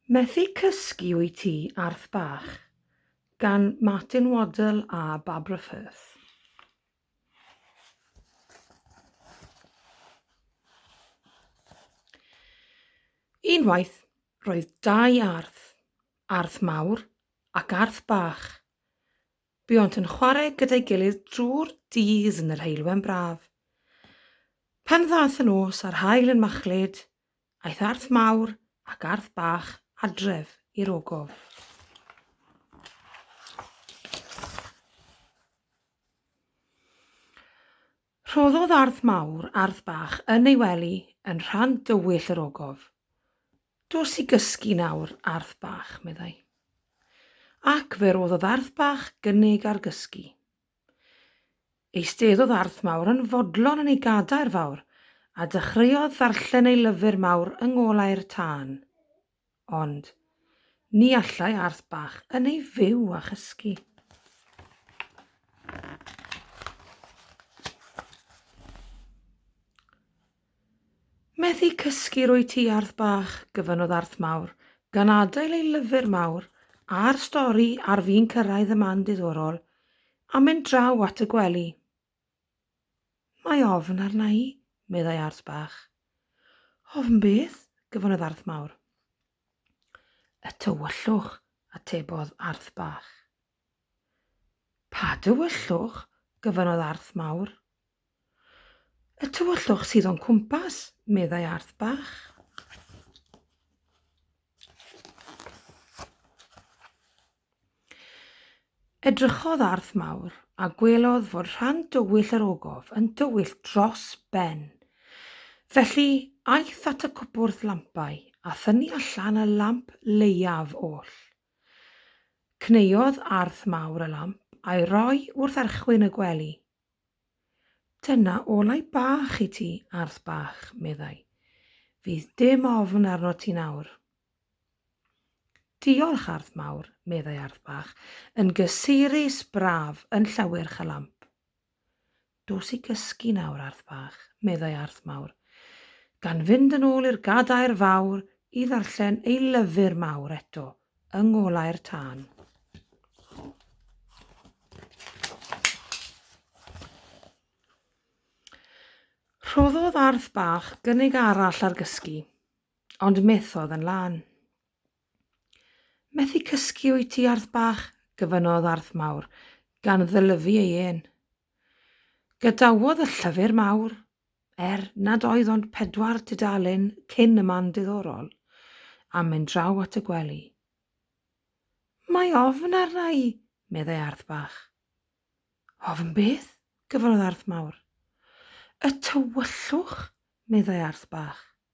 Methu Cysgu Wyt Ti, Arth Bach? gan Martin Waddell a Barbara Firth. Unwaith, roedd dau arth, arth mawr ac arth bach. Buont yn chwarae gyda'i gilydd drwy'r dydd yn yr heulwen braf. Pan ddaeth y nos a'r haul yn machlud, Aeth Arth Mawr ac Arth Bach adref i'r ogof. Rhoddodd Arth Mawr Arth Bach yn ei wely yn rhan dywyll yr ogof. Dos i gysgu nawr, Arth Bach, meddai. Ac fe roddodd Arth Bach gynnig ar gysgu. Eisteddodd Arth Mawr yn fodlon yn ei gadair fawr, a dechreuodd ddarllen ei lyfr mawr yng ngolau'r tân. Ond, ni allai Arth Bach yn ei fyw a chysgu. Methu cysgu rwyt ti Arth bach, gyfynnodd Arth mawr, gan adael ei lyfr mawr a'r stori ar fin cyrraedd y man diddorol, a mynd draw at y gwely. Mae ofn arna i, meddai Arth bach. Ofn beth? gyfynnodd Arth mawr. Y tywyllwch, atebodd Arth bach. Pa dywyllwch? gofynnodd Arth Mawr. Y tywyllwch sydd o'n cwmpas, meddai Arth Bach. Edrychodd Arth Mawr a gwelodd fod rhan dywyll yr ogof yn dywyll dros ben. Felly, aeth at y cwpwrdd lampau a thynnu allan y lamp leiaf oll. Cneiodd arth mawr y lamp a'i roi wrth archwyn y gwely. Dyna olau bach i ti, arth bach, meddai. Fydd dim ofn arnot ti nawr. Diolch, arth mawr, meddai arth bach, yn gysurus braf yn llawyrch y lamp. Dos i gysgu nawr, Arth bach, meddai Arth mawr, gan fynd yn ôl i'r gadair fawr i ddarllen ei lyfr mawr eto yng ngolau'r tân. Rhoddodd Arth bach gynnig arall ar gysgu, ond methodd yn lân. Methu cysgu wyt ti, Arth bach? gyfynnodd Arth mawr, gan ddylyfu ei ên. Gadawodd y llyfr mawr, er nad oedd ond pedwar dudalen cyn y man diddorol, a mynd draw at y gwely. Mae ofn arna i, meddai Arth bach. Ofn beth? gyfynnodd Arth mawr. Y tywyllwch, meddai Arth bach.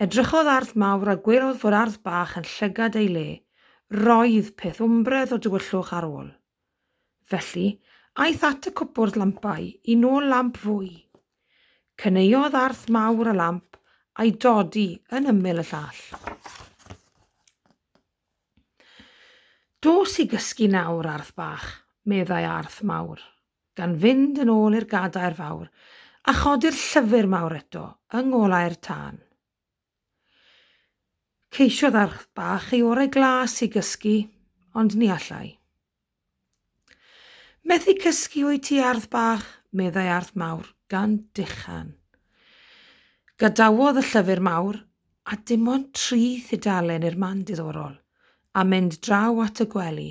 Edrychodd ardd mawr a gwelodd fod ardd bach yn llygad ei le. Roedd peth wmbredd o dywyllwch ar ôl. Felly, aeth at y cwpwrdd lampau i nôl lamp fwy. Cynaeodd ardd mawr y lamp a'i dodi yn ymyl y llall. Dos i gysgu nawr, ardd bach, meddai ardd mawr. gan fynd yn ôl i'r gadair fawr a chodi'r llyfr mawr eto yng ngolau'r tân. Ceisiodd arch bach ei orau glas i gysgu, ond ni allai. Methu cysgu o'i ti ardd bach, meddai ardd mawr, gan dechan. Gadawodd y llyfr mawr, a dim ond tri thudalen i'r man diddorol, a mynd draw at y gwely.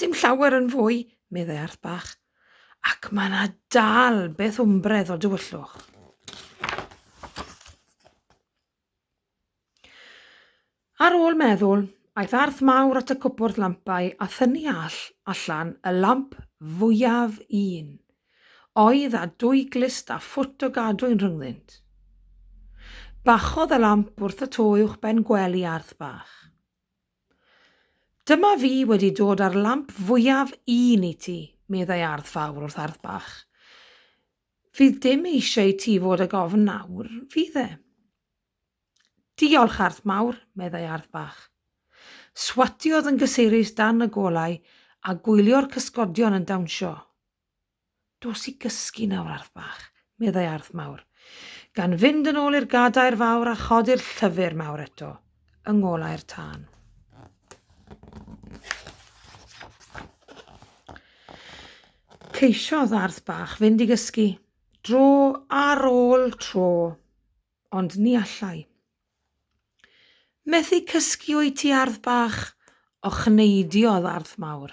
Dim llawer yn fwy, meddai Arth Bach, ac mae yna dal beth wmbredd o dywyllwch. Ar ôl meddwl, aeth arth mawr at y cwpwrdd lampau a thynu all allan y lamp fwyaf un, oedd a dwy glist a ffwt o gadwyn rhyngddynt. Bachodd y lamp wrth y to uwch ben gwely arth bach. Dyma fi wedi dod â'r lamp fwyaf un i ti, meddai Ardd Fawr wrth Ardd Bach. Fydd dim eisiau i ti fod ag ofn nawr, fydd e? Diolch, Ardd Mawr, meddai Ardd Bach. Swatiodd yn gysurus dan y golau a gwylio'r cysgodion yn dawnsio. Dos i gysgu nawr, Arth bach, meddai Arth mawr, gan fynd yn ôl i'r gadair fawr a chodi'r llyfr mawr eto, yng ngolau'r tân. Ceisiodd Arth bach fynd i gysgu, dro ar ôl tro, ond ni allai. Methu cysgu o'i ti ardd bach, ochneidio oedd ardd mawr.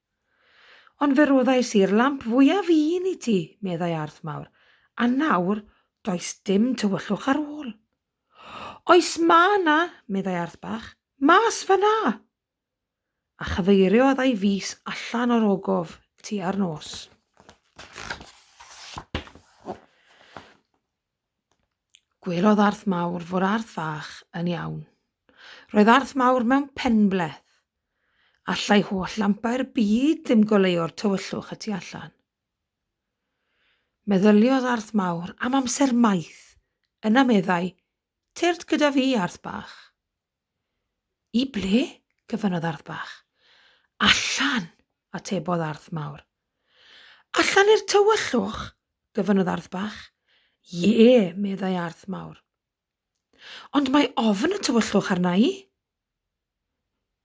Ond fe roddais i'r lamp fwyaf un i ti, meddai Arth Mawr, a nawr does dim tywyllwch ar ôl. Oes ma na, meddai Arth Bach, mas fa na! A chyfeiriodd ei fys allan o'r ogof tua'r nos. Gwelodd Arth Mawr fod Arth Fach yn iawn. Roedd Arth Mawr mewn penbleth. Allai holl lampau'r byd ddim goleuo'r tywyllwch y tu allan. Meddyliodd Arth Mawr am amser maith. Yna meddai, Tyrd gyda fi, Arth Bach. I ble? gofynnodd Arth Bach. Allan, atebodd Arth Mawr. Allan i'r tywyllwch? gofynnodd Arth Bach. Ie, meddai Arth Mawr. Ond mae ofn y tywyllwch arna i.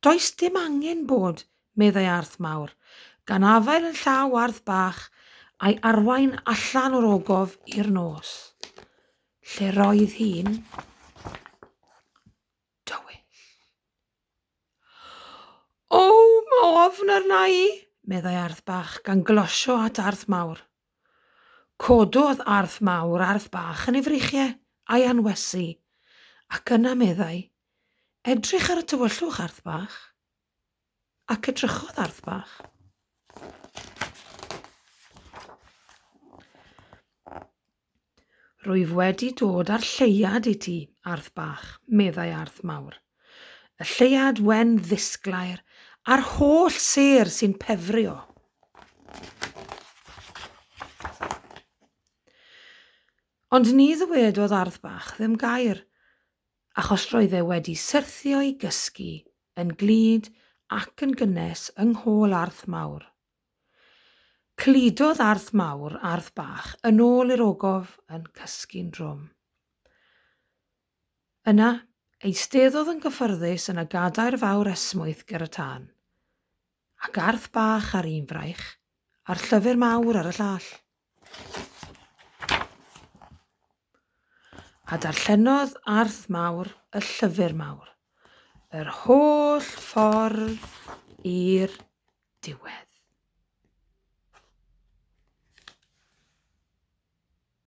Does dim angen bod, meddai Arth Mawr, gan afael yn llaw Arth Bach a'i arwain allan o'r ogof i'r nos. Lle roedd hi'n dywyll. O, mae ofn arna i, meddai Arth Bach gan glosio at Arth Mawr. Cododd Arth Mawr Arth Bach yn ei freichiau a'i anwesu, ac yna meddai, Edrych ar y tywyllwch, Arth Bach. Ac edrychodd arth bach. Rwyf wedi dod â'r lleiad i ti, arth bach, meddai arth mawr. Y lleiad wen ddisglair a'r holl ser sy'n pefrio. Ond ni ddywedodd ardd bach ddim gair. Achos roedd e wedi syrthio'i gysgu yn glyd ac yn gynnes yng nghôl Arth Mawr. Cludodd Arth Mawr Arth Bach yn ôl i'r ogof yn cysgu'n drwm. Yna, eisteddodd yn gyffyrddus yn y gadair fawr esmwyth ger y tân, ac Arth Bach ar un fraich, a'r llyfr mawr ar y llall. A darllenodd Arth Mawr y Llyfr Mawr yr holl ffordd i'r diwedd.